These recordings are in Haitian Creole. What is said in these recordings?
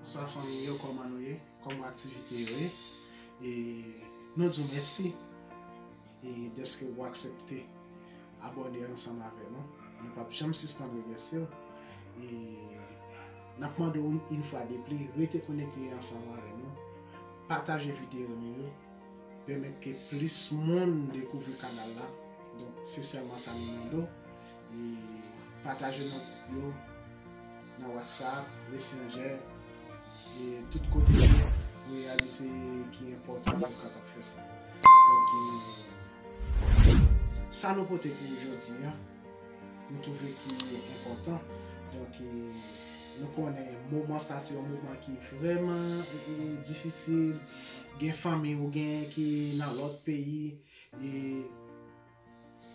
Bonswa fanmi yo kòman nou ye kòman aktivite yo ye e nou di w mèsi e dèske ou aksèpte abòne ansanm avè nou nou pap janm sispann remèsye w e nap mande w yn fwa depli rete konekte ansanm avè nou pataje videyo nou yo pèmèt ke plis moun dekouvri kanal la donk se sèlman sa nou mande w. E pataje nan gwoup yo, nan WhatsApp, Messenger, e tout kote yo pou reyalize ki enpòtan pou nou kapab fè sa. Donk e, sa nou pote pou ou jodi a, nou twouve ki enpòtan. Donk e, nou konnen moman sa se yon moman ki vrèman difisil, gen fanmi ou genyen ki nan lòt peyi, e.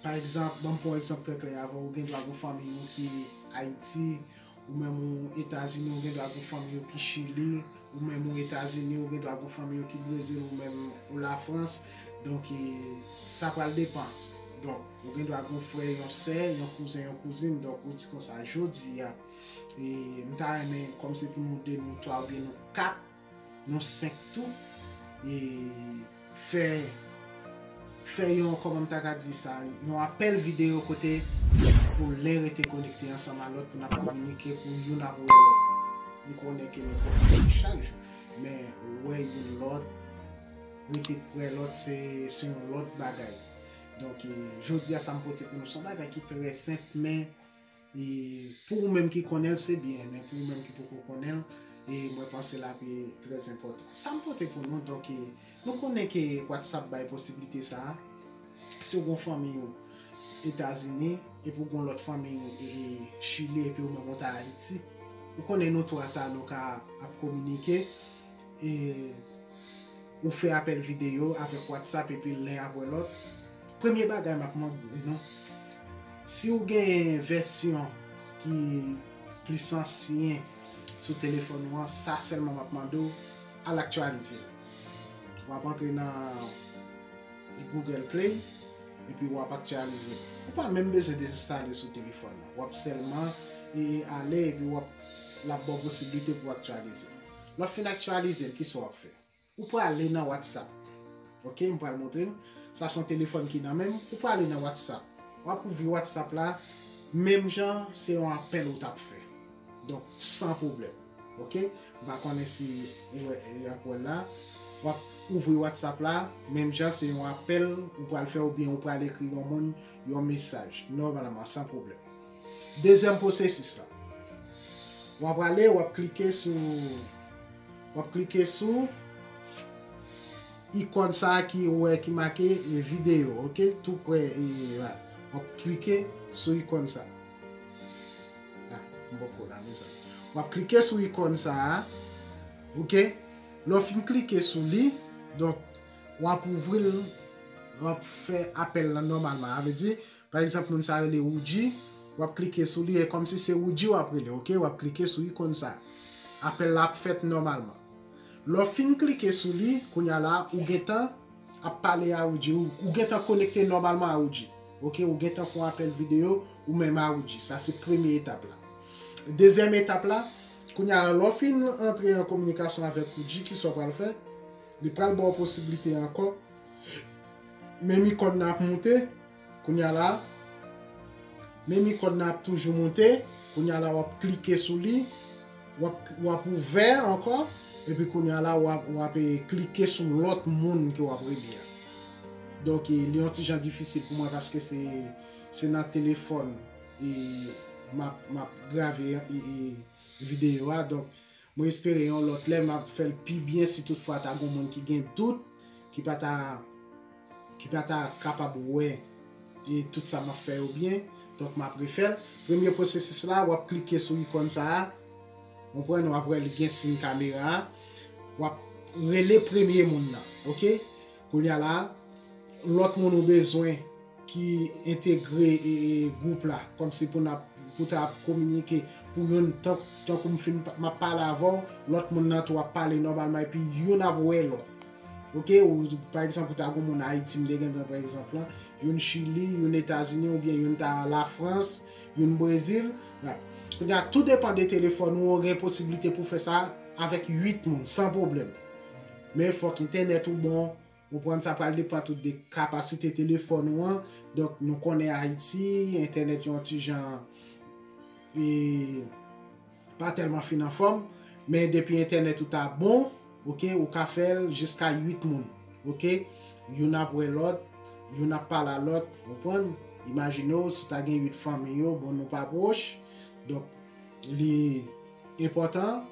Pa egzanp, ban m pran yon egzanp trè klè avè w, gen dwa gen yon fanmiy ou ki Ayiti, ou menm ou Etazini, ou gen dwa gen yon fanmiy ou ki Chili, ou menm ou Etazini, ou gen dwa gen yon fanmiy ou ki Brezil, ou menm ou Lafrans, donk e sa pral depan. Donk, ou gen dwa gen yon frè, yon sè, yon kouzen, yon kouzin, donk ou di konsa, jodi a, e m ta renmen, kòm se pou nou de, nou twa oubyen nou kat, Nou 5 tou e fè fè yon kòman m ta ka di sa yon apèl videyo kote pou len rete konekte ansanm a lòt pou na kominike pou youn ap wè lòt. M konnen ke nou konfini chak jou men wè youn lòt rete prè lòt se se yon lòt bagay. Donk e jodi a sa m pote pou nou se yon bagay ki trè senp men E pou ou menm ki konnen l se byen, men pou ou menm ki poko konnen l, e mwen panse l ape trè enpòtan. Sa m pote pou nou, donk e, nou konnen ke WhatsApp bay posibilite sa a, si ou gen yon fanmiy ou Etazini, epi ou gen yon lòt fanmiy ou e Chili epi ou menm ou ta Ayiti, ou konnen nou twa sa a nou ka ap kominike. e ou fè apèl videyo avèk WhatsApp epi len apre lòt, premye bagay map mande nou, si ou gen vèsyon ki plis ansyen sou telefòn ou an, sa sèlman map mande ou, al aktyalize l. Wap antre nan Google Play epi wap aktyalize l. Ou pa menm bezwen dezenstale l sou telefòn ou an. Wap sèlman ale epi wap lap baw posiblite pou aktyalize l. Lè w fin aktyalize l, kisa w ap fè? Ou prale nan WhatsApp. Ok, m pral montre n. Sa se yon telefòn ki nan men m. Ou prale nan WhatsApp. W ap ouvri WhatsApp la, menm jan se yon apèl ou t ap fè. Donk, san pwoblèm. Ok, m pa konnen si ou wè, y ap wè l la. W ap ouvri WhatsApp la, menm jan se yon apèl ou pral fè oubyen ou pral ekri yon moun yon mesaj, nòmalman, san pwoblèm. Dezyèm pwosesis la. W ap ale, w ap klike sou, w ap klike sou ikòn sa a ki ou wè ki make videyo, ok, tou prè e la. W ap klike sou ikòn sa a. A, m poko la mezanmi. W ap klike sou ikòn sa a, ok. Lè w fin klike sou li, donk, w ap ouvri l, w ap fè apèl la nòmalman. A vle di, Pa egzanp moun sa rele Woodjy, wap klike sou li e kòmsi se Woodjy wap rele ok, wap klike sou ikon sa. Apèl la ap fèt nòmalman. Lè w fin klike sou li, kounya la ou gentan ap pale a Woodjy, ou gentan konekte nòmalman a Woodjy ok, ou gentan fon apèl videyo ou menm a Woodjy. Sa se premye etap la. Dezyèm etap la, kounya la lè w fin antre an kominikasyon avèk Woodjy kisa w pral fè? Li pral ba w posiblite ankò, menm ikon nan ap moute. Kounya la, menm ikòn nan ap toujou moute, kounya la wap klike sou li, wap ouvè ankò, epi kounya la wap klike sou lòt moun ke wap rele a. Donk li yon ti jan difisil pou mwen paske se nan telefòn map grave videyo a. Mwen espere yon lòt lè map fèl pi byen si tout fwa ta gon moun ki gen dout ki pa ta ki pa ta kapab wè tout sa map fè yo byen donk map refèl premye pwosesis la wap klike sou ikòn sa a ou konprann wap wè li gen siy kamera a wap rele premye moun nan ok. Kounye a la a, lòt moun ou bezwen ki entegre gwoup la, kòmsi pou n ap, pou ta ap kominike, pou youn, tankou m fin, m ap pale avè w, lòt moun nan tou ap pale nòmalman epi youn ap wè lòt. Ok, pa egzanp ou ta gen yon moun Ayiti m te gen pran pa egzanp lan, youn Chili, youn Etazini oubyen youn ta Lafrans, youn Brezil, right. Kounye a, tou depan de telefòn ou, ou gen posiblite pou fè sa avèk 8 moun san pwoblèm. Men fòk entènèt ou bon, ou konprann sa pral depan tou de kapasite telefòn ou an, donk nou konnen Ayiti, entènèt yon ti jan e pa tèlman fin anfòm, men depi entènèt ou ta bon, ok, ou ka fèl jiska 8 moun, ok, youn ap wè lòt, youn ap pale a lòt, ou konprann, imajine w si w ta gen 8 fanmi yo, bon nou pa pwoch, donk li. enpòtan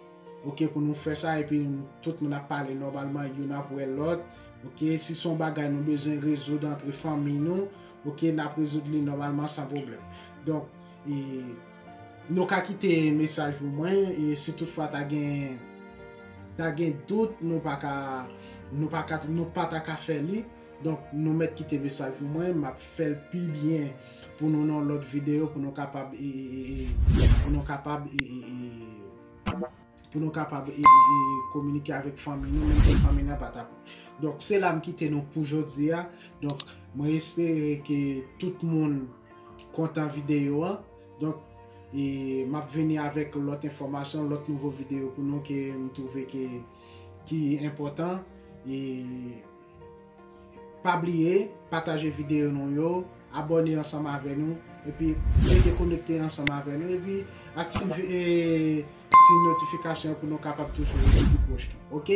ok pou nou fè sa epi tout moun ap pale nòmalman youn ap wè lòt ok si son bagay nou bezwen rezoud antre fanmiy nou ok nap rezoud li nòmalman san pwoblèm donk e nou ka kite mesaj pou mwen e si tout fwa ta gen ta gen dout nou pa ka nou pa ka nou pa ta ka fè li donk nou mèt kite mesaj pou mwen map fèl pi byen. Pou nou nan lot video pou nou kapab e e e pou nou kapab e e e pou nou kapab e e e kominike avek fanmi nou menm ke fanmi nan pa tap donk se la m kite nou pou jodi a donk mwen espere ke tout moun kontan video an donk e map vini avek lot enfomasyon lot nouvo video pou nou ke m twouve ke ki enpotan e. Pa bliye pataje video nou yo, abone ansanm avè nou epi rete konekte ansanm avè nou epi aktive siy notification pou nou kapab toujou rete pi pwoch nou ok.